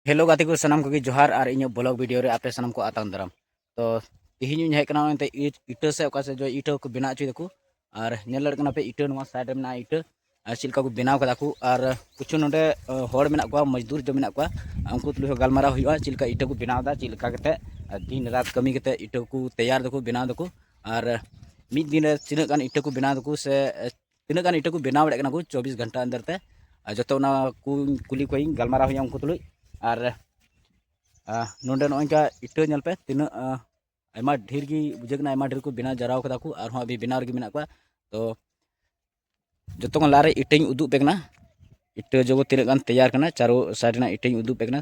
hello ᱜᱟᱛᱮ ᱠᱚ ᱥᱟᱱᱟᱢ ᱠᱚᱜᱮ ᱡᱚᱦᱟᱨ ᱟᱨ ᱤᱧᱟᱹᱜ ᱵᱞᱚᱜ ᱵᱷᱤᱰᱤᱭᱳ ᱨᱮ ᱟᱯᱮ ᱥᱟᱱᱟᱢ ᱠᱚ ᱟᱛᱟᱝ ᱫᱟᱨᱟᱢ ᱛᱚ ᱛᱮᱦᱮᱧ ᱤᱧ ᱦᱮᱡ ᱠᱟᱱᱟ ᱮᱱᱛᱮ ᱤᱴᱟᱹ ᱥᱮ ᱚᱠᱟ ᱥᱮ ᱡᱚ ᱤᱴᱟᱹ ᱠᱚ ᱵᱮᱱᱟᱣ ᱦᱚᱪᱚᱭ ᱫᱟᱠᱚ ᱟᱨ ᱧᱮᱞ ᱫᱟᱲᱮᱭᱟᱜ ᱠᱟᱱᱟ ᱯᱮ ᱤᱴᱟᱹ ᱱᱚᱣᱟ ᱥᱟᱭᱤᱰ ᱨᱮ ᱢᱮᱱᱟᱜᱼᱟ ᱤᱴᱟᱹ ᱟᱨ ᱪᱮᱫ ᱞᱮᱠᱟ ᱠᱚ ᱵᱮᱱᱟᱣ ᱠᱟᱫᱟ ᱠᱚ ᱟᱨ ᱠᱤᱪᱷᱩ ᱱᱚᱰᱮ ᱦᱚᱲ ᱢᱮᱱᱟᱜ ᱠᱚᱣᱟ ᱢᱚᱡᱽᱫᱩᱨ ᱡᱚ ᱢᱮᱱᱟᱜ ᱠᱚᱣᱟ ᱩᱱᱠᱩ ᱛᱩᱞᱩᱡ ᱦᱚᱸ ᱜᱟᱞᱢᱟᱨᱟᱣ ᱦᱩᱭᱩᱜᱼᱟ ᱪᱮᱫ ᱞᱮᱠᱟ ᱤᱴᱟᱹ ᱠᱚ ᱵᱮᱱᱟᱣ ᱮᱫᱟ ᱪᱮᱫ ᱞᱮᱠᱟ ᱠᱟᱛᱮ ᱫᱤᱱ ᱨᱟᱛ ᱠᱟᱹᱢᱤ ᱠᱟᱛᱮ ᱤᱴᱟᱹ ᱠᱚ ᱛᱮᱭᱟᱨ ᱫᱟᱠᱚ ᱵᱮᱱᱟᱣ ᱫᱟᱠᱚ ᱟᱨ ᱢᱤᱫ ᱫᱤᱱ ᱨᱮ ᱛᱤᱱᱟᱹᱜ ᱜᱟᱱ ᱤᱴᱟᱹ ᱠᱚ ᱵᱮᱱᱟᱣ ᱫᱟᱠᱚ ᱥᱮ ᱛᱤᱱᱟᱹᱜ ᱜᱟᱱ ᱤᱴᱟᱹ ᱠᱚ ᱵᱮᱱᱟᱣ ᱫᱟᱲᱮᱭᱟᱜ ᱠᱟᱱᱟ ᱠᱚ ᱪᱚᱵᱵᱤᱥ ᱜᱷᱚᱱᱴᱟ ᱟᱱᱫᱟᱨ ᱛᱮ ᱟᱨ ᱡᱚᱛᱚ ᱚᱱᱟ ᱠᱚ ᱠᱩᱞᱤ ᱠᱚᱣᱟᱧ ᱜᱟᱞᱢᱟᱨᱟᱣ ᱦᱩᱭᱩᱜᱼᱟ ᱩᱱᱠᱩ ᱛᱩᱞᱩᱡ ᱟᱨ ᱱᱚᱰᱮ ᱱᱚᱜᱼᱚᱭ ᱱᱚᱝᱠᱟ ᱤᱴᱟᱹ ᱧᱮᱞ ᱯᱮ ᱛᱤᱱᱟᱹᱜ ᱟᱭᱢᱟ ᱰᱷᱮᱨ ᱜᱮ ᱵᱩᱡᱷᱟᱹᱜ ᱠᱟᱱᱟ ᱟᱭᱢᱟ ᱰᱷᱮᱨ ᱠᱚ ᱵᱮᱱᱟᱣ ᱡᱟᱣᱨᱟᱣ ᱠᱟᱫᱟ ᱠᱚ ᱟᱨᱦᱚᱸ ᱟᱹᱵᱤ ᱵᱮᱱᱟᱣ ᱨᱮᱜᱮ ᱢᱮᱱᱟᱜ ᱠᱚᱣᱟ ᱛᱚ ᱡᱚᱛᱚ ᱠᱷᱚᱱ ᱞᱟᱦᱟᱨᱮ ᱤᱴᱟᱹᱧ ᱩᱫᱩᱜ ᱯᱮ ᱠᱟᱱᱟ ᱤᱴᱟᱹ ᱡᱚᱜᱚ ᱛᱤᱱᱟᱹᱜ ᱜᱟᱱ ᱛᱮᱭᱟᱨ ᱠᱟᱱᱟ ᱪᱟᱨᱳ ᱥᱟᱭᱤᱰ ᱨᱮᱱᱟᱜ ᱤᱴᱟᱹᱧ ᱩᱫᱩᱜ ᱯᱮ ᱠᱟᱱᱟ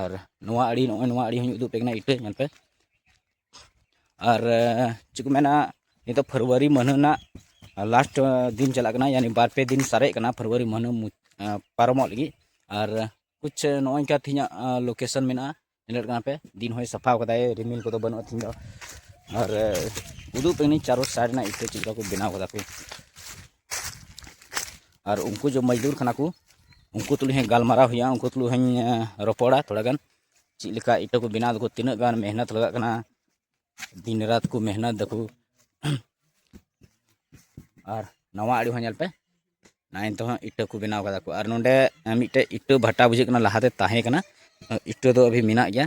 ᱟᱨ ᱱᱚᱣᱟ ᱟᱲᱮ ᱱᱚᱜᱼᱚᱸᱭ ᱱᱚᱣᱟ ᱟᱲᱮ ᱦᱚᱸᱧ ᱩᱫᱩᱜ ᱟᱯᱮ ᱠᱟᱱᱟ ᱤᱴᱟᱹ ᱧᱮᱞ ᱯᱮ ᱟᱨ ᱪᱮᱫ ᱠᱚ ᱢᱮᱱᱟ ᱱᱤᱛᱚᱜ ᱯᱷᱮᱵᱽᱨᱩᱣᱟᱨᱤ ᱢᱟᱹᱦᱱᱟᱹ ᱨᱮᱱᱟᱜ ᱞᱟᱥᱴ ᱫᱤᱱ ᱪᱟᱞᱟᱜ ᱠᱟᱱᱟ ᱭᱟᱱᱤ ᱵᱟᱨ ᱯᱮ ᱫᱤᱱ ᱥᱟᱨᱮᱡ ᱠᱟᱱᱟ ᱯᱷᱮᱵᱽᱨᱩᱣᱟᱨᱤ ᱢᱟᱹᱦᱱᱟᱹ ᱯᱟᱨᱚᱢᱚᱜ ᱞᱟᱹᱜᱤᱫ ᱟᱨ ᱠᱩᱪ ᱱᱚᱜᱼᱚᱸᱭ ᱱᱚᱝᱠᱟ ᱛᱮᱦᱮᱧᱟᱜ ᱞᱳᱠᱮᱥᱚᱱ ᱢᱮᱱᱟᱜᱼᱟ ᱧᱮᱞᱮᱫ ᱠᱟᱱᱟ ᱯᱮ ᱫᱤᱱ ᱦᱚᱸᱭ ᱥᱟᱯᱷᱟ ᱠᱟᱫᱟᱭ ᱨᱤᱢᱤᱞ ᱠᱚᱫᱚ ᱵᱟᱹᱱᱩᱜᱼᱟ ᱛᱮᱦᱮᱧ ᱫᱚ ᱟᱨ ᱩᱫᱩᱜ ᱟᱯᱮ ᱠᱟᱹᱱᱟᱹᱧ ᱪᱟᱨᱚ ᱥᱟᱭᱤᱰ ᱨᱮᱱᱟᱜ ᱤᱴᱟᱹ ᱪᱮᱫ ᱞᱮᱠᱟ ᱠᱚ ᱵᱮᱱᱟᱣ ᱠᱟᱫᱟ ᱠᱚ ᱟᱨ ᱩᱱᱠᱩ ᱡᱚ ᱢᱚᱡᱽᱫᱩᱨ ᱠᱟᱱᱟ ᱠᱚ ᱩᱱᱠᱩ ᱛᱩᱞᱩᱡ ᱦᱚᱸ ᱜᱟᱞᱢᱟᱨᱟᱣ ᱦᱩᱭᱩᱜᱼᱟ ᱩᱱᱠᱩ ᱛᱩᱞᱩᱡ ᱦᱚᱸᱧ ᱨᱚᱯᱚᱲᱟ ᱛᱷᱚᱲᱟ ᱜᱟᱱ ᱪᱮᱫ ᱞᱮᱠᱟ ᱤᱴᱟᱹ ᱠᱚ ᱵᱮᱱᱟᱣ ᱫᱟᱠᱚ ᱛᱤᱱᱟᱹᱜ ᱜᱟᱱ ᱢᱮᱦᱱᱚᱛ ᱞᱟᱜᱟᱜ ᱠᱟᱱᱟ ᱫᱤᱱ ᱨᱟᱛ ᱠᱚ ᱢᱮᱦᱱᱚᱛ ᱫᱟᱠᱚ ᱟᱨ ᱱᱟᱣᱟ ᱟᱲᱮ ᱦᱚᱸ ᱧᱮᱞ ᱯᱮ ᱱᱟᱭ ᱛᱮᱦᱚᱸ ᱤᱴᱟᱹ ᱠᱚ ᱵᱮᱱᱟᱣ ᱠᱟᱫᱟ ᱠᱚ ᱟᱨ ᱱᱚᱰᱮ ᱢᱤᱫᱴᱮᱡ ᱤᱴᱟᱹ ᱵᱷᱟᱴᱟ ᱵᱩᱡᱷᱟᱹᱜ ᱠᱟᱱᱟ ᱞᱟᱦᱟᱛᱮ ᱛᱟᱦᱮᱸ ᱠᱟᱱᱟ ᱤᱴᱟᱹ ᱫᱚ ᱟᱹᱵᱷᱤ ᱢᱮᱱᱟᱜ ᱜᱮᱭᱟ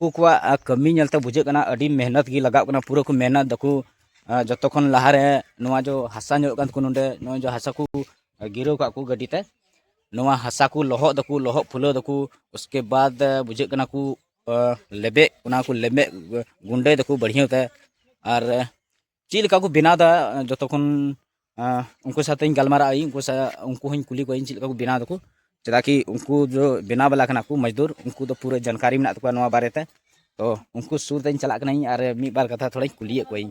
ᱩᱱᱠᱩ ᱠᱚᱣᱟᱜ ᱠᱟᱹᱢᱤ ᱧᱮᱞᱛᱮ ᱵᱩᱡᱷᱟᱹᱜ ᱠᱟᱱᱟ ᱟᱹᱰᱤ ᱢᱮᱦᱱᱚᱛ ᱜᱮ ᱞᱟᱜᱟᱜ ᱠᱟᱱᱟ ᱯᱩᱨᱟᱹ ᱠᱚ ᱢᱮᱦᱱᱚᱛ ᱫᱟᱠᱚ ᱡᱚᱛᱚ ᱠᱷᱚᱱ ᱞᱟᱦᱟᱨᱮ ᱱᱚᱣᱟ ᱡᱚ ᱦᱟᱥᱟ ᱧᱩᱨᱩᱜ ᱠᱟᱱ ᱛᱟᱠᱚ ᱱᱚᱰᱮ ᱱᱚᱜᱼᱚᱭ ᱡᱚ ᱦᱟᱥᱟ ᱠᱚ ᱜᱤᱨᱟᱹᱣ ᱠᱟᱜ ᱠᱚ ᱜᱟᱹᱰᱤ ᱛᱮ ᱱᱚᱣᱟ ᱦᱟᱥᱟ ᱠᱚ ᱞᱚᱦᱚᱫ ᱫᱟᱠᱚ ᱞᱚᱦᱚᱫ ᱯᱷᱩᱞᱟᱹᱣ ᱫᱟᱠᱚ ᱩᱥᱠᱮ ᱵᱟᱫ ᱵᱩᱡᱷᱟᱹᱜ ᱠᱟᱱᱟ ᱠᱚ ᱞᱮᱵᱮᱫ ᱚᱱᱟ ᱠᱚ ᱞᱮᱵᱮᱫ ᱜᱩᱸᱰᱟᱹᱭ ᱫᱟᱠᱚ ᱵᱟᱹᱲᱦᱤᱭᱟᱹ ᱛᱮ ᱟᱨ ᱪᱮᱫ ᱞᱮᱠᱟ ᱠᱚ ᱵᱮᱱᱟᱣ ᱮᱫᱟ ᱡᱚᱛᱚ ᱠᱷᱚᱱ ᱩᱱᱠᱩ ᱥᱟᱛᱮᱧ ᱜᱟᱞᱢᱟᱨᱟᱜ ᱟᱹᱧ ᱩᱱᱠᱩ ᱥᱟᱶ ᱩᱱᱠᱩ ᱦᱚᱧ ᱠᱩᱞᱤ ᱠᱚᱣᱟᱹᱧ ᱪᱮᱫ ᱞᱮᱠᱟ ᱠᱚ ᱵᱮᱱᱟᱣ ᱫᱟᱠᱚ ᱪᱮᱫᱟᱜ ᱠᱤ ᱩᱱᱠᱩ ᱫᱚ ᱵᱮᱱᱟᱣ ᱵᱟᱞᱟ ᱠᱟᱱᱟ ᱠᱚ ᱢᱚᱡᱽᱫᱩᱨ ᱩᱱᱠᱩ ᱫᱚ ᱯᱩᱨᱟᱹ ᱡᱟᱱᱠᱟᱨᱤ ᱢᱮᱱᱟᱜ ᱛᱟᱠᱚᱣᱟ ᱱᱚᱣᱟ ᱵᱟᱨᱮᱛᱮ ᱛᱚ ᱩᱱᱠᱩ ᱥᱩᱨ ᱛᱮᱧ ᱪᱟᱞᱟᱜ ᱠᱟᱹᱱᱟᱹᱧ ᱟᱨ ᱢᱤᱫ ᱵᱟᱨ ᱠᱟᱛᱷᱟ ᱛᱷᱚᱲᱟᱧ ᱠᱩᱞᱤᱭᱮᱫ ᱠᱚᱣᱟᱹᱧ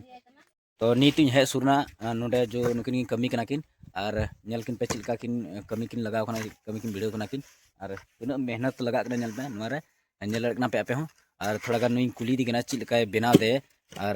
ᱛᱚ ᱱᱤᱛ ᱤᱧ ᱦᱮᱡ ᱥᱩᱨᱱᱟ ᱱᱚᱰᱮ ᱡᱚ ᱱᱩᱠᱤᱱ ᱠᱤᱱ ᱠᱟᱹᱢᱤ ᱠᱟᱱᱟ ᱠᱤᱱ ᱟᱨ ᱧᱮᱞ ᱠᱤᱱ ᱯᱮ ᱪᱮᱫ ᱞᱮᱠᱟ ᱠᱤᱱ ᱠᱟᱹᱢᱤ ᱠᱤᱱ ᱞᱟᱜᱟᱣ ᱠᱟᱱᱟ ᱠᱟᱹᱢᱤ ᱠᱤᱱ ᱵᱷᱤᱲᱟᱹᱣ ᱠᱟᱱᱟ ᱠᱤᱱ ᱟᱨ ᱛᱤᱱᱟᱹᱜ ᱢᱮᱦᱱᱚᱛ ᱞᱟᱜᱟᱜ ᱠᱟᱱᱟ ᱧᱮᱞ ᱯᱮ ᱱᱚᱣᱟ ᱨᱮ ᱧᱮᱞ ᱫᱟᱲᱮᱭᱟᱜ ᱠᱟᱱᱟ ᱯᱮ ᱟᱯᱮ ᱦᱚᱸ ᱟᱨ ᱛᱷᱚᱲᱟ ᱜᱟᱱ ᱱᱩᱭᱤᱧ ᱠᱩᱞᱤᱭᱮᱫᱮ ᱠᱟᱱᱟ ᱪᱮᱫ ᱞᱮᱠᱟᱭ ᱵᱮᱱᱟᱣ ᱫᱮ ᱟᱨ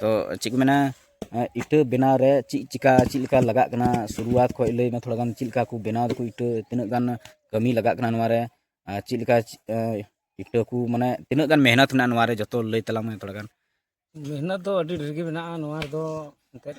ᱛᱚ ᱪᱮᱫ ᱠᱚ ᱢᱮᱱᱟ ᱤᱴᱟᱹ ᱵᱮᱱᱟᱣ ᱨᱮ ᱪᱮᱫ ᱪᱤᱠᱟ ᱪᱮᱫ ᱞᱮᱠᱟ ᱞᱟᱜᱟᱜ ᱠᱟᱱᱟ ᱥᱩᱨᱩᱣᱟᱛ ᱠᱷᱚᱡ ᱞᱟᱹᱭ ᱢᱮ ᱛᱷᱚᱲᱟ ᱜᱟᱱ ᱪᱮᱫ ᱞᱮᱠᱟ ᱠᱚ ᱵᱮᱱᱟᱣ ᱫᱟᱠᱚ ᱤᱴᱟᱹ ᱛᱤᱱᱟᱹᱜ ᱜᱟᱱ ᱠᱟᱹᱢᱤ ᱞᱟᱜᱟᱜ ᱠᱟᱱᱟ ᱱᱚᱣᱟ ᱨᱮ ᱟᱨ ᱪᱮᱫ ᱞᱮᱠᱟ ᱤᱴᱟᱹ ᱠᱚ ᱢᱟᱱᱮ ᱛᱤᱱᱟᱹᱜ ᱜᱟᱱ ᱢᱮᱦᱱᱚᱛ ᱢᱮᱱᱟᱜᱼᱟ ᱱᱚᱣᱟ ᱨᱮ ᱡᱚᱛᱚ ᱞᱟᱹᱭ ᱛᱟᱞᱟᱝ ᱢᱮ ᱛᱷᱚᱲᱟ ᱜᱟᱱ ᱢᱮᱦᱱᱚᱛ ᱫᱚ ᱟᱹᱰᱤ ᱰᱷᱮᱨ ᱜᱮ ᱢᱮᱱᱟᱜᱼᱟ ᱱᱚᱣᱟ ᱨᱮᱫᱚ ᱮᱱᱛᱮᱫ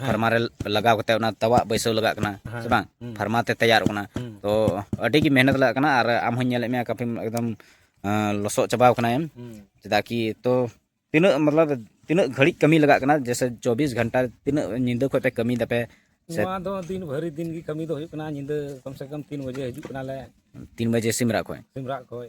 ᱯᱷᱟᱨᱢᱟ ᱨᱮ ᱞᱟᱜᱟᱣ ᱠᱟᱛᱮ ᱚᱱᱟ ᱛᱟᱣᱟᱜ ᱵᱟᱹᱭᱥᱟᱹᱣ ᱞᱟᱜᱟᱜ ᱠᱟᱱᱟ ᱥᱮ ᱵᱟᱝ ᱯᱷᱟᱨᱢᱟ ᱛᱮ ᱛᱮᱭᱟᱨᱚᱜ ᱠᱟᱱᱟ ᱛᱚ ᱟᱹᱰᱤ ᱜᱮ ᱢᱮᱦᱱᱚᱛ ᱞᱟᱜᱟᱜ ᱠᱟᱱᱟ ᱟᱨ ᱟᱢ ᱦᱚᱸᱧ ᱧᱮᱞᱮᱫ ᱢᱮᱭᱟ ᱠᱟᱯᱷᱤ ᱮᱠᱫᱚᱢ ᱞᱚᱥᱚᱫ ᱪᱟᱵᱟᱣ ᱠᱟᱱᱟᱭᱮᱢ ᱪᱮᱫᱟᱜ ᱠᱤ ᱛᱚ ᱛᱤᱱᱟᱹᱜ ᱢᱚᱛᱞᱚᱵ ᱛᱤᱱᱟᱹᱜ ᱜᱷᱟᱹᱲᱤᱡ ᱠᱟᱹᱢᱤ ᱞᱟᱜᱟᱜ ᱠᱟᱱᱟ ᱡᱮᱥᱮ ᱪᱚᱵᱵᱤᱥ ᱜᱷᱚᱱᱴᱟ ᱛᱤᱱᱟᱹᱜ ᱧᱤᱫᱟᱹ ᱠᱷᱚᱡ ᱯᱮ ᱠᱟᱹᱢᱤ ᱫᱟᱯᱮ ᱱᱚᱣᱟ ᱫᱚ ᱫᱤᱱ ᱵᱷᱟᱹᱨᱤ ᱫᱤᱱ ᱜᱮ ᱠᱟᱹᱢᱤ ᱫᱚ ᱦᱩᱭᱩᱜ ᱠᱟᱱᱟ ᱧᱤᱫᱟᱹ ᱠᱚᱢ ᱥᱮ ᱠᱚᱢ ᱛᱤᱱ ᱵᱟᱡᱮ ᱦᱤᱡᱩᱜ ᱠᱟᱱᱟᱞᱮ ᱛᱤᱱ ᱵᱟᱡᱮ ᱥᱤᱢᱨᱟᱜ ᱠᱷᱚᱡ ᱥᱤᱢᱨᱟᱜ ᱠᱷᱚᱡ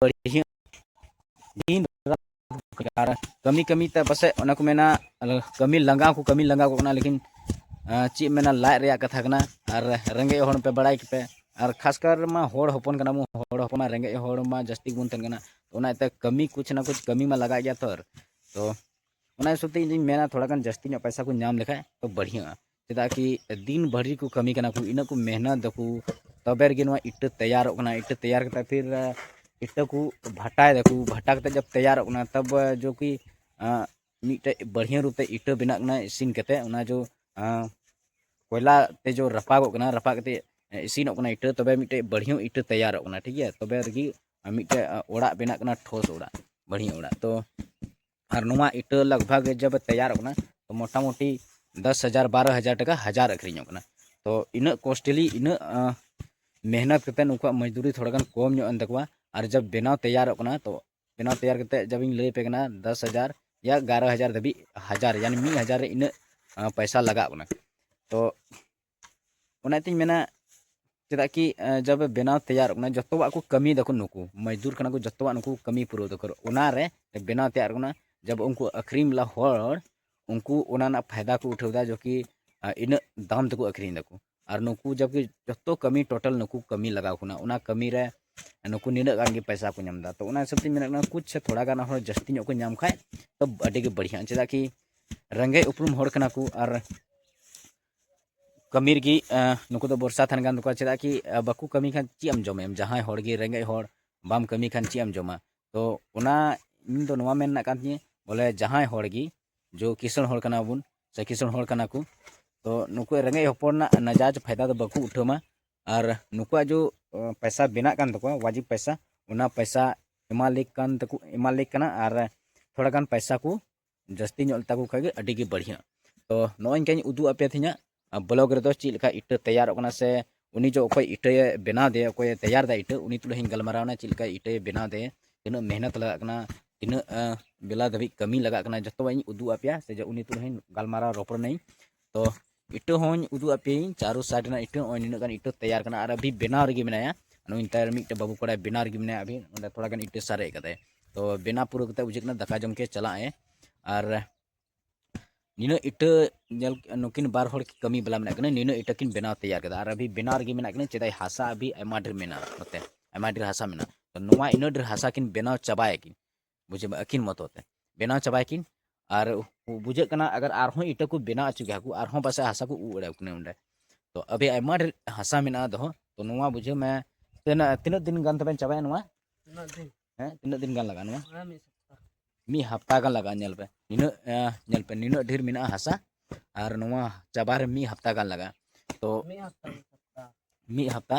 ᱵᱟᱹᱲᱤᱡ ᱟᱨ ᱠᱟᱹᱢᱤ ᱠᱟᱹᱢᱤ ᱛᱮ ᱯᱟᱥᱮᱡ ᱚᱱᱟ ᱠᱚ ᱢᱮᱱᱟ ᱠᱟᱹᱢᱤ ᱞᱟᱸᱜᱟ ᱠᱚ ᱠᱟᱹᱢᱤ ᱞᱟᱸᱜᱟ ᱠᱚ ᱠᱟᱱᱟ ᱞᱮᱠᱤᱱ ᱪᱮᱫ ᱢᱮᱱᱟ ᱞᱟᱡ ᱨᱮᱭᱟᱜ ᱠᱟᱛᱷᱟ ᱠᱟᱱᱟ ᱟᱨ ᱨᱮᱸᱜᱮᱡ ᱦᱚᱲ ᱯᱮ ᱵᱟᱲᱟᱭ ᱜᱮᱯᱮ ᱟᱨ ᱠᱷᱟᱥ ᱠᱟᱨ ᱢᱟ ᱦᱚᱲ ᱦᱚᱯᱚᱱ ᱠᱟᱱᱟ ᱵᱚᱱ ᱦᱚᱲ ᱦᱚᱯᱚᱱ ᱢᱟ ᱨᱮᱸᱜᱮᱡ ᱦᱚᱲ ᱢᱟ ᱡᱟᱹᱥᱛᱤ ᱵᱚᱱ ᱛᱟᱦᱮᱱ ᱠᱟᱱᱟ ᱚᱱᱟ ᱤᱭᱟᱹᱛᱮ ᱠᱟᱹᱢᱤ ᱠᱩᱪ ᱱᱟ ᱠᱩᱪ ᱠᱟᱹᱢᱤ ᱢᱟ ᱞᱟᱜᱟᱜ ᱜᱮᱭᱟ ᱛᱚ ᱛᱚ ᱚᱱᱟ ᱦᱤᱥᱟᱹᱵ ᱛᱮ ᱤᱧ ᱫᱩᱧ ᱢᱮᱱᱟ ᱛᱷᱚᱲᱟ ᱜᱟᱱ ᱡᱟᱹᱥᱛᱤ ᱧᱚᱜ ᱯᱚᱭᱥᱟ ᱠᱚ ᱧᱟᱢ ᱞᱮᱠᱷᱟᱡ ᱛᱚ ᱵᱟᱹᱲᱦᱤᱭᱟᱹᱜᱼᱟ ᱪᱮᱫᱟᱜ ᱠᱤ ᱫᱤᱱ ᱵᱷᱟᱹᱨᱤ ᱠᱚ ᱠᱟᱹᱢᱤ ᱠᱟᱱᱟ ᱠᱚ ᱤᱱᱟᱹᱜ ᱠᱚ ᱢᱮᱦᱱᱚᱛ ᱫᱟᱠᱚ ᱛᱚᱵᱮ ᱨᱮᱜᱮ ᱱᱚᱣᱟ ᱤᱴᱟᱹ ᱛᱮᱭᱟᱨᱚᱜ ᱠᱟᱱᱟ ᱤᱴᱟᱹ ᱛᱮᱭᱟᱨ ᱠᱟᱛᱮᱫ ᱯᱷᱤᱨ ᱤᱴᱟᱹ ᱠᱚ ᱵᱷᱟᱴᱟᱭ ᱫᱟᱠᱚ ᱵᱷᱟᱴᱟ ᱠᱟᱛᱮᱫ ᱡᱚᱵ ᱛᱮᱭᱟᱨᱚᱜ ᱠᱟᱱᱟ ᱛᱚᱵ ᱡᱚ ᱠᱤ ᱢᱤᱫᱴᱮᱡ ᱵᱟᱹᱲᱦᱤᱭᱟᱹ ᱨᱩᱯ ᱛᱮ ᱤᱴᱟᱹ ᱵᱮᱱᱟᱜ ᱠᱟᱱᱟ ᱤᱥᱤᱱ ᱠᱟᱛᱮᱫ ᱚᱱᱟ ᱡᱚ ᱠᱚᱭᱞᱟ ᱛᱮ ᱡᱚ ᱨᱟᱯᱟᱜᱚᱜ ᱠᱟᱱᱟ ᱨᱟᱯᱟᱜ ᱠᱟᱛᱮᱫ ᱤᱥᱤᱱᱚᱜ ᱠᱟᱱᱟ ᱤᱴᱟᱹ ᱛᱚᱵᱮ ᱢᱤᱫᱴᱮᱡ ᱵᱟᱹᱲᱦᱤᱭᱟᱹ ᱤᱴᱟᱹ ᱛᱮᱭᱟᱨᱚᱜ ᱠᱟᱱᱟ ᱴᱷᱤᱠ ᱜᱮᱭᱟ ᱛᱚᱵᱮ ᱨᱮᱜᱮ ᱢᱤᱫᱴᱮᱡ ᱚᱲᱟᱜ ᱵᱮᱱᱟᱜ ᱠᱟᱱᱟ ᱴᱷᱚᱥ ᱚᱲᱟᱜ ᱵᱟᱹᱲᱦᱤᱭᱟᱹ ᱚᱲᱟᱜ ᱛᱚ ᱟᱨ ᱱᱚᱣᱟ ᱤᱴᱟᱹ ᱞᱟᱜᱽ ᱵᱷᱟᱜᱽ ᱡᱚᱵ ᱛᱮᱭᱟᱨᱚᱜ ᱠᱟᱱᱟ ᱛᱚ ᱢᱚᱴᱟᱢᱩᱴᱤ ᱫᱚᱥ ᱦᱟᱡᱟᱨ ᱵᱟᱨᱚ ᱦᱟᱡᱟᱨ ᱴᱟᱠᱟ ᱦᱟᱡᱟᱨ ᱟᱹᱠᱷᱨᱤᱧᱚᱜ ᱠᱟᱱᱟ ᱛᱚ ᱤᱱᱟᱹᱜ ᱠᱚᱥᱴᱞᱤ ᱤᱱᱟᱹᱜ ᱢᱮᱦᱱᱚᱛ ᱠᱟᱛᱮᱫ ᱩᱱᱠᱩᱣᱟᱜ ᱢᱚᱡᱽᱫᱩᱨᱤ ᱛᱷᱚᱲᱟ ᱜᱟᱱ ᱠᱚᱢ ᱧᱚᱜ ᱮᱱ ᱛᱟᱠᱚᱣᱟ ᱟᱨ ᱡᱚᱵ ᱵᱮᱱᱟᱣ ᱛᱮᱭᱟᱨᱚᱜ ᱠᱟᱱᱟ ᱛᱚ ᱵᱮᱱᱟᱣ ᱛᱮᱭᱟᱨ ᱠᱟᱛᱮᱫ ᱡᱚᱵ ᱤᱧ ᱞᱟᱹᱭ ᱟᱯᱮ ᱠᱟᱱᱟ ᱫᱚᱥ ᱦᱟᱡᱟᱨ ᱭᱟ ᱮᱜᱟᱨᱚ ᱦᱟᱡᱟᱨ ᱫᱷᱟᱹᱵᱤᱡ ᱦᱟᱡᱟᱨ ᱭᱟᱱᱤ ᱢᱤᱫ ᱦᱟᱡᱟᱨ ᱨᱮ ᱤᱱᱟᱹᱜ ᱯᱚᱭᱥᱟ ᱞᱟᱜᱟᱜ ᱠᱟᱱᱟ ᱛᱚ ᱚᱱᱟ ᱛᱤᱧ ᱢᱮᱱᱟ ᱪᱮᱫᱟᱜ ᱠᱤ ᱡᱚᱵ ᱵᱮᱱᱟᱣ ᱛᱮᱭᱟᱨ ᱠᱟᱱᱟ ᱡᱚᱛᱚᱣᱟᱜ ᱠᱚ ᱠᱟᱹᱢᱤ ᱫᱟᱠᱚ ᱱᱩᱠᱩ ᱢᱚᱡᱽᱫᱩᱨ ᱠᱟᱱᱟ ᱠᱚ ᱡᱚᱛᱚᱣᱟᱜ ᱱᱩᱠᱩ ᱠᱟᱹᱢᱤ ᱯᱩᱨᱟᱹᱣ ᱫᱟᱠᱚ ᱚᱱᱟ ᱨᱮ ᱵᱮᱱᱟᱣ ᱛᱮᱭᱟᱨ ᱠᱟᱱᱟ ᱡᱚᱵ ᱩᱱᱠᱩ ᱟᱹᱠᱷᱨᱤᱧ ᱵᱟᱞᱟ ᱦᱚᱲ ᱩᱱᱠᱩ ᱚᱱᱟ ᱨᱮᱱᱟᱜ ᱯᱷᱟᱭᱫᱟ ᱠᱚ ᱩᱴᱷᱟᱹᱣ ᱮᱫᱟ ᱡᱚ ᱠᱤ ᱤᱱᱟᱹᱜ ᱫᱟᱢ ᱛᱮᱠᱚ ᱟᱹᱠᱷᱨᱤᱧ ᱫᱟᱠᱚ ᱟᱨ ᱱᱩᱠᱩ ᱡᱚᱵ ᱠᱤ ᱡᱚᱛᱚ ᱠᱟᱹᱢᱤ ᱴᱳᱴᱟᱞ ᱱᱩᱠᱩ ᱠᱟᱹᱢᱤ ᱞᱟᱜᱟᱣ ᱠᱟᱱᱟ ᱚᱱᱟ ᱠᱟᱹᱢᱤ ᱨᱮ ᱱᱩᱠᱩ ᱱᱤᱱᱟᱹᱜ ᱜᱟᱱ ᱜᱮ ᱯᱚᱭᱥᱟ ᱠᱚ ᱧᱟᱢ ᱮᱫᱟ ᱛᱚ ᱚᱱᱟ ᱦᱤᱥᱟᱹᱵ ᱛᱤᱧ ᱢᱮᱱᱮᱫ ᱠᱟᱱᱟ ᱠᱩᱪ ᱥᱮ ᱛᱷᱚᱲᱟ ᱜᱟᱱ ᱦᱚᱲ ᱡᱟᱹᱥᱛᱤ ᱧᱚᱜ ᱠᱚ ᱧᱟᱢ ᱠᱷᱟᱱ ᱛᱚ ᱟᱹᱰᱤ ᱜᱮ ᱵᱟᱹᱲᱤᱡᱼᱟ ᱪᱮᱫᱟᱜ ᱠᱤ ᱨᱮᱸᱜᱮᱡ ᱩᱯᱨᱩᱢ ᱦᱚᱲ ᱠᱟᱱᱟ ᱠᱚ ᱟᱨ ᱠᱟᱹᱢᱤ ᱨᱮᱜᱮ ᱱᱩᱠᱩ ᱫᱚ ᱵᱚᱨᱥᱟ ᱛᱟᱦᱮᱱ ᱠᱟᱱ ᱛᱟᱠᱚᱣᱟ ᱪᱮᱫᱟᱜ ᱠᱤ ᱵᱟᱠᱚ ᱠᱟᱹᱢᱤ ᱠᱷᱟᱱ ᱪᱮᱫ ᱮᱢ ᱡᱚᱢᱟ ᱮᱢ ᱡᱟᱦᱟᱸᱭ ᱦᱚᱲ ᱜᱮ ᱨᱮᱸᱜᱮᱡ ᱦᱚᱲ ᱵᱟᱢ ᱠᱟᱹᱢᱤ ᱠᱷᱟᱱ ᱪᱮᱫ ᱮᱢ ᱡᱚᱢᱟ ᱛᱚ ᱚᱱᱟ ᱤᱧ ᱫᱚ ᱱᱚᱣᱟ ᱢᱮᱱ ᱨᱮᱱᱟᱜ ᱠᱟᱱ ᱛᱤᱧᱟᱹ ᱵᱚᱞᱮ ᱡᱟᱦᱟᱸᱭ ᱦᱚᱲ ᱜᱮ ᱡᱚ ᱠᱤᱥᱟᱹᱬ ᱦᱚᱲ ᱠᱟᱱᱟ ᱵᱚᱱ ᱥᱮ ᱠᱤᱥᱟᱹᱬ ᱦᱚᱲ ᱠᱟᱱᱟ ᱠᱚ ᱛᱚ ᱱᱩᱠᱩ ᱨᱮᱸᱜᱮᱡ ᱦᱚᱯᱚᱱ ᱨᱮᱱᱟᱜ ᱱᱟᱡᱟᱡᱽ ᱯᱷᱟᱭᱫᱟ ᱫᱚ ᱵᱟᱠᱚ ᱩᱴᱷᱟᱹᱣ ᱢᱟ ᱟᱨ ᱱᱩᱠᱩᱣᱟᱜ ᱡᱚ ᱯᱚᱭᱥᱟ ᱵᱮᱱᱟᱜ ᱠᱟᱱ ᱛᱟᱠᱚᱣᱟ ᱣᱟᱡᱤᱵ ᱯᱚᱭᱥᱟ ᱚᱱᱟ ᱯᱚᱭᱥᱟ ᱮᱢᱟ ᱞᱮ ᱠᱟᱱ ᱛᱟᱠᱚ ᱮᱢᱟ ᱞᱮ ᱠᱟᱱᱟ ᱟᱨ ᱛᱷᱚᱲᱟ ᱜᱟᱱ ᱯᱚᱭᱥᱟ ᱠᱚ ᱡᱟᱹᱥᱛᱤ ᱧᱚᱜ ᱞᱮᱛᱟ ᱠᱚ ᱠᱷᱟᱡ ᱜᱮ ᱟᱹᱰᱤ ᱜᱮ ᱵᱟᱹᱲᱤᱭᱟᱹᱜᱼᱟ ᱛᱚ ᱱᱚᱜᱼᱚᱭ ᱤᱧᱠᱟᱧ ᱩᱫᱩᱜ ᱟᱯᱮᱭᱟ ᱛᱤᱧᱟ ᱵᱞᱚᱜ ᱨᱮᱫᱚ ᱪᱮᱫ ᱞᱮᱠᱟ ᱤᱴᱟᱹ ᱛᱮᱭᱟᱨᱚᱜ ᱠᱟᱱᱟ ᱥᱮ ᱩᱱᱤ ᱡᱚ ᱚᱠᱚᱭ ᱤᱴᱟᱹᱭᱮ ᱵᱮᱱᱟᱣ ᱫᱮᱭᱟ ᱚᱠᱚᱭᱮ ᱛᱮᱭᱟᱨ ᱫᱟ ᱤᱴᱟᱹ ᱩᱱᱤ ᱛᱩᱞᱩᱡ ᱤᱧ ᱜᱟᱞᱢᱟᱨᱟᱣᱱᱟ ᱪᱮᱫ ᱞᱮᱠᱟ ᱤᱴᱟᱹᱭᱮ ᱵᱮᱱᱟᱣ ᱫᱮᱭᱟ ᱛᱤᱱᱟᱹᱜ ᱢᱮᱦᱱᱚᱛ ᱞᱟᱜᱟᱜ ᱠᱟᱱᱟ ᱛᱤᱱᱟᱹᱜ ᱵᱮᱞᱟ ᱫᱷᱟᱹᱵᱤᱡ ᱠᱟᱹᱢᱤ ᱞᱟᱜᱟᱜ ᱠᱟᱱᱟ ᱡᱚᱛᱚᱣᱟᱜ ᱤᱧ ᱩᱫᱩᱜ ᱟᱯᱮᱭᱟ ᱥᱮ ᱩᱱᱤ ᱛᱩᱞᱩᱡ ᱦᱚᱸᱧ ᱜᱟᱞᱢᱟᱨᱟᱣ ᱨᱚᱯᱚᱲ ᱱᱟᱹᱧ ᱛᱚ ᱤᱴᱟᱹ ᱦᱚᱸᱧ ᱩᱫᱩᱜ ᱟᱯᱮᱭᱟᱹᱧ ᱪᱟᱨᱳ ᱥᱟᱭᱤᱰ ᱨᱮᱱᱟᱜ ᱤᱴᱟᱹ ᱱᱚᱜᱼᱚᱭ ᱱᱤᱱᱟᱹᱜ ᱜᱟᱱ ᱤᱴᱟᱹ ᱛᱮᱭᱟᱨ ᱠᱟᱱᱟ ᱟᱨ ᱟᱹᱵᱷᱤ ᱵᱮᱱᱟᱣ ᱨᱮᱜᱮ ᱢᱮᱱᱟᱭᱟ ᱱᱩᱭ ᱱᱮᱛᱟᱨ ᱢᱤᱫᱴᱮᱱ ᱵᱟᱹᱵᱩ ᱠᱚᱲᱟᱭ ᱵᱮᱱᱟᱣ ᱨᱮᱜᱮ ᱢᱮᱱᱟᱭᱟ ᱟᱹᱵᱷᱤ ᱚᱸᱰᱮ ᱛᱷᱚᱲᱟ ᱜᱟᱱ ᱤᱴᱟᱹ ᱥᱟᱨᱮᱡ ᱠᱟᱫᱟᱭ ᱛᱚ ᱵᱮᱱᱟᱣ ᱯᱩᱨᱟᱹ ᱠᱟᱛᱮ ᱵᱩᱡᱷᱟᱹᱜ ᱠᱟᱱᱟ ᱫᱟᱠᱟ ᱡᱚᱢ ᱠᱮ ᱪᱟᱞᱟᱜ ᱟᱭ ᱟᱨ ᱱᱤᱱᱟᱹᱜ ᱤᱴᱟᱹ ᱧᱮᱞ ᱱᱩᱠᱤᱱ ᱵᱟᱨ ᱦᱚᱲ ᱠᱟᱹᱢᱤ ᱵᱟᱞᱟ ᱢᱮᱱᱟᱜ ᱠᱤᱱᱟ ᱱᱤᱱᱟᱹᱜ ᱤᱴᱟᱹ ᱠᱤᱱ ᱵᱮᱱᱟᱣ ᱛᱮᱭᱟᱨ ᱠᱮᱫᱟ ᱟᱨ ᱟᱹᱵᱷᱤ ᱵᱮᱱᱟᱣ ᱨᱮᱜᱮ ᱢᱮᱱᱟᱜ ᱠᱤᱱᱟ ᱪᱮᱫᱟᱜ ᱦᱟᱥᱟ ᱟᱹᱵᱷᱤ ᱟᱭᱢᱟ ᱰᱷᱮᱨ ᱢᱮᱱᱟᱜᱼᱟ ᱱᱚᱛᱮ ᱟᱭᱢᱟ ᱰᱷᱮᱨ ᱦᱟᱥᱟ ᱢᱮᱱᱟᱜᱼᱟ ᱛᱚ ᱱᱚᱣᱟ ᱤᱱᱟᱹᱜ ᱰᱷᱮᱨ ᱦᱟᱥᱟ ᱠᱤᱱ ᱵᱮᱱᱟᱣ ᱪᱟᱵᱟᱭᱟᱠᱤᱱ ᱵᱩᱡᱷᱟᱹᱣ ᱢᱮ ᱟᱹᱠᱤᱱ ᱢᱚᱛᱚ ᱛᱮ ᱵᱮᱱᱟᱣ ᱪᱟᱵᱟᱭᱟᱠᱤᱱ ᱟᱨ ᱵᱩᱡᱷᱟᱹᱜ ᱠᱟᱱᱟ ᱟᱜᱟᱨ ᱟᱨᱦᱚᱸ ᱤᱴᱟᱹ ᱠᱚ ᱵᱮᱱᱟᱣ ᱦᱚᱪᱚ ᱠᱮᱭᱟ ᱠᱚ ᱟᱨᱦᱚᱸ ᱯᱟᱥᱮᱡ ᱦᱟᱥᱟ ᱠᱚ ᱩᱵ ᱫᱟᱲᱮᱭᱟᱠᱚ ᱠᱟᱱᱟ ᱚᱸᱰᱮ ᱛᱚ ᱟᱹᱵᱤ ᱟᱭᱢᱟ ᱰᱷᱮᱨ ᱦᱟᱥᱟ ᱢᱮᱱᱟᱜᱼᱟ ᱫᱚᱦᱚ ᱛᱚ ᱱᱚᱣᱟ ᱵᱩᱡᱷᱟᱹᱣ ᱢᱮ ᱛᱤᱱᱟᱹᱜ ᱛᱤᱱᱟᱹᱜ ᱫᱤᱱ ᱜᱟᱱ ᱛᱟᱵᱮᱱ ᱪᱟᱵᱟᱭᱟ ᱱᱚᱣᱟ ᱦᱮᱸ ᱛᱤᱱᱟᱹᱜ ᱫᱤᱱ ᱜᱟᱱ ᱞᱟᱜᱟᱜᱼᱟ ᱱᱚᱣᱟ ᱢᱤᱫ ᱦᱟᱯᱛᱟ ᱜᱟᱱ ᱞᱟᱜᱟᱜᱼᱟ ᱧᱮᱞ ᱯᱮ ᱱᱤᱱᱟᱹᱜ ᱧᱮᱞ ᱯᱮ ᱱᱤᱱᱟᱹᱜ ᱰᱷᱮᱨ ᱢᱮᱱᱟᱜᱼᱟ ᱦᱟᱥᱟ ᱟᱨ ᱱᱚᱣᱟ ᱪᱟᱵᱟ ᱨᱮ ᱢᱤᱫ ᱦᱟᱯᱛᱟ ᱜᱟᱱ ᱞᱟᱜᱟᱜᱼᱟ ᱛᱚ ᱢᱤᱫ ᱦᱟᱯᱛᱟ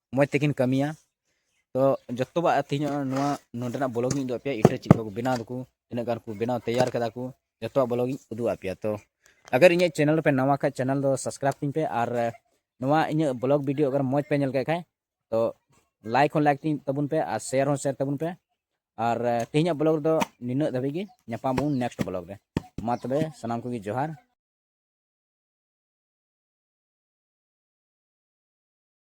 ᱢᱚᱡᱽ ᱛᱮᱠᱤᱱ ᱠᱟᱹᱢᱤᱭᱟ ᱛᱚ ᱡᱚᱛᱚᱣᱟᱜ ᱛᱮᱦᱮᱧ ᱱᱚᱣᱟ ᱱᱚᱰᱮᱱᱟᱜ ᱵᱞᱚᱜ ᱤᱧ ᱩᱫᱩᱜ ᱟᱯᱮᱭᱟ ᱤᱴᱟᱹ ᱪᱮᱫ ᱠᱚ ᱵᱮᱱᱟᱣ ᱫᱟᱠᱚ ᱛᱤᱱᱟᱹᱜ ᱜᱟᱱ ᱠᱚ ᱵᱮᱱᱟᱣ ᱛᱮᱭᱟᱨ ᱠᱟᱫᱟ ᱠᱚ ᱡᱚᱛᱚᱣᱟᱜ ᱵᱞᱚᱜ ᱤᱧ ᱩᱫᱩᱜ ᱟᱯᱮᱭᱟ ᱛᱚ ᱟᱜᱟᱨ ᱤᱧᱟᱹᱜ ᱪᱮᱱᱮᱞ ᱯᱮ ᱱᱟᱣᱟ ᱠᱷᱟᱡ ᱪᱮᱱᱮᱞ ᱫᱚ ᱥᱟᱵᱥᱠᱨᱟᱭᱤᱵᱽ ᱛᱤᱧ ᱯᱮ ᱟᱨ ᱱᱚᱣᱟ ᱤᱧᱟᱹᱜ ᱵᱞᱚᱜ ᱵᱷᱤᱰᱤᱭᱳ ᱟᱜᱟᱨ ᱢᱚᱡᱽ ᱯᱮ ᱧᱮᱞ ᱠᱮᱫ ᱠᱷᱟᱡ ᱛᱚ ᱞᱟᱭᱤᱠ ᱦᱚᱸ ᱞᱟᱭᱤᱠ ᱛᱤᱧ ᱛᱟᱵᱚᱱ ᱯᱮ ᱟᱨ ᱥᱮᱭᱟᱨ ᱦᱚᱸ ᱥᱮᱭᱟᱨ ᱛᱟᱵᱚᱱ ᱯᱮ ᱟᱨ ᱛᱮᱦᱮᱧᱟᱜ ᱵᱞᱚᱜ ᱨᱮᱫᱚ ᱱᱤᱱᱟᱹᱜ ᱫᱷᱟᱹᱵᱤᱡ ᱜᱮ ᱧᱟᱯᱟᱢ ᱵᱚᱱ ᱱᱮᱠᱥᱴ ᱵᱞᱚᱜ ᱨᱮ ᱢᱟ ᱛᱚᱵᱮ ᱥᱟᱱᱟᱢ ᱠᱚᱜᱮ ᱡᱚᱦᱟᱨ